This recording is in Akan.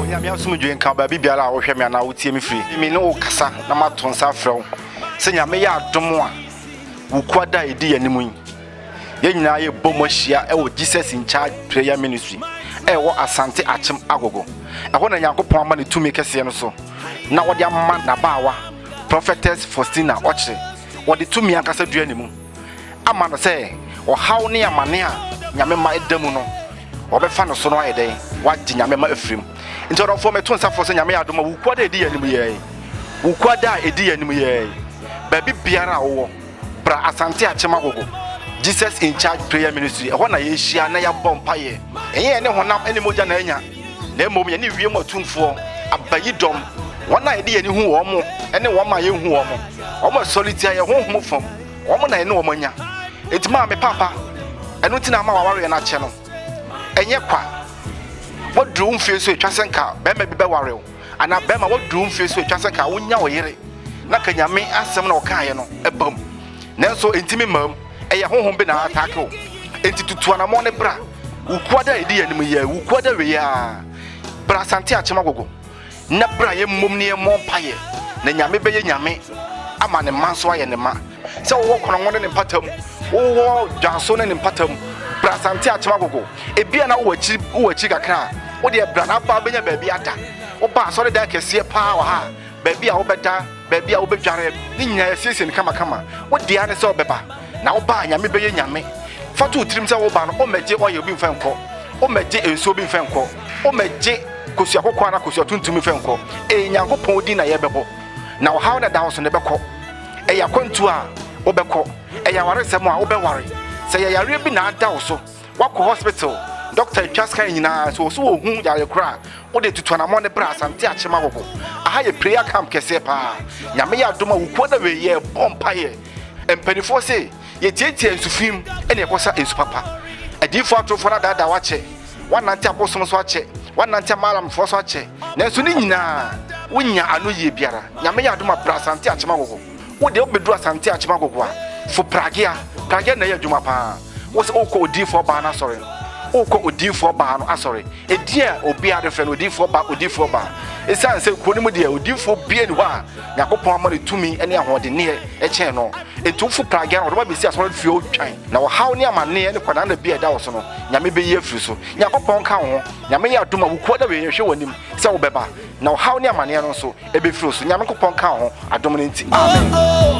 onyame asomdwoe nka baabi biara a wohwɛ me anaa wotie me firi me ne wo kasa na mato nsa afrɛ wo sɛ nyame yɛ adom a wo kuada a ɛdi yɛ anim yi yɛn nyinaa yɛbɔ mu ahyia ɛwɔ jesus in charge prayer ministry ɛwɔ asante akyem agogo ɛhɔ na nyankopɔn ama ne tumi kɛseɛ no so na wɔde ama n'abaawa prophetess faustina ɔkyere wɔde tumi ankasa dua ne mu ama no sɛ ɔhaw ne amane a nyame mma ɛda mu no wɔbɛfa no so no ayɛ dɛn wagye nyame ma afirim nti ɔdɔfoɔ meto nsa fo sɛ nyame yɛ adoma wukua da ɛdi yɛ anim yɛi wukua da a ɛdi yɛ anim yɛi baabi biara a wowɔ bra asante akyema gogo jesus in charge prayer ministry ɛhɔ na yɛhyia na yɛabɔ mpayɛ ɛyɛ ne honam ne mogya na anya na mmom yɛne wiem atumfoɔ, abayidɔm, wɔn a yɛde yɛn ani hu wɔn ne wɔn a yɛnhu wɔn, wɔn a sɔre tia yɛn honhom fam, wɔn na yɛne wɔn anya. Enti maa me papa, ɛno nti na ama wawareɛ no akyɛ no. Ɛnyɛ kwa. Waduru wo mfie so ɛtwa sɛ nka bɛrima bi bɛware wo, anaa bɛrima waduru wo mfie so ɛtwa sɛ nka wonya wo yere, na ka Nyame asɛm na ɔkaeɛ no ɛbam. Nanso ɛntimi mmam. Ɛyɛ honhom bi na aataake wo. Enti tutu anamɔn ne bra. Wo kuada a ɛdi yɛn anim yi, wo kuada wei a, bra Asante Akyem Agogo na bra yɛmmom ne yɛmmɔ mpaeɛ na Nyame bɛyɛ Nyame ama ne mma nso ayɛ ne mma. Sɛ wowɔ Konongo ne ne mpata mu, wowɔ Dwanso ne ne mpata mu, bra Asante Akyem Agogo. Ebia na wowɔ akyiri, wowɔ akyiri kakra a, wodeɛ bra na aba abɛnya baabi ada. Woba asɔredan kɛseɛ paa wɔ ha a, baabi a wobɛda baabi a wobɛdware ne nyinaa yɛasiesie no kamakama. Wo dea ne sɛ wobɛba. Na woba a, Nyame bɛyɛ Nyame. Fa to wo tirim sɛ woreba no, wommɛgye oil bi mfa nkɔ. Wommɛgye nsuo bi mfa nkɔ. Wommɛgye kosua kɔkɔɔ anaa kosua tuntum mfa nkɔ. Ee, Nyankopɔn din na yɛrebɛbɔ. Na ɔhaw no a ɛda wo so no, ɛbɛkɔ. Ɛyɛ akwantuo a, wobɛkɔ. Ɛyɛ awaresɛm a, wobɛware. Sɛ ɛyɛ yareɛ bi na ada wo so, Woakɔ hospital, doctor atwa scan nyinaa, sɛ wɔso wɔhu yare koro a, wode tutu anamɔ ne bra Asante Akyema Gogo. Aha yɛ prayer camp kɛseɛ paa. Nyame yɛ adom a wokuo na wei yɛ bɔ mpaeɛ. Mpanifoɔ se yɛtiatia nsu fim ɛne ɛkɔsa nsu papa. Adiyifoɔ atorofoɔ no adaadaa w'akyɛ, woanante abosom so akyɛ, woanante amalamfoɔ so akyɛ, nanso ne nyinaa wonya ano yie biara. Nyame yɛ adom a bra Asante Akyema Gogo. wo deɛ wobɛduru asante akyem agogo a fo pragea pragea na ɛyɛ adwuma paa wo sɛ wokɔ odiifoɔ baa no asɔre wokɔ odiifoɔ baa no asɔre ɛdin a obiara de frɛ no odiifoɔ baa odiifoɔ baa ɛsiane sɛ kuro no mu deɛ odiifoɔ bie ne hɔ a nyankopɔn ama no tumi ne ahoɔdenneɛ ɛkyɛn no ɛnti wofo pragea no wɔdoma bɛsi asɔre fie wotwan na wɔhaw ne amanneɛ ne kwanaa na bi a ɛda wo so no nyame bɛyi afiri so nyankopɔn ka wo ho nyame yɛ adom a wokuo da wei hwɛ w'anim sɛ wobɛba Na ɔhaw ne amaneɛ no nso ɛbɛfiri wo so. Nyame Nkopɔn nka wo ho adom no nti. Amen.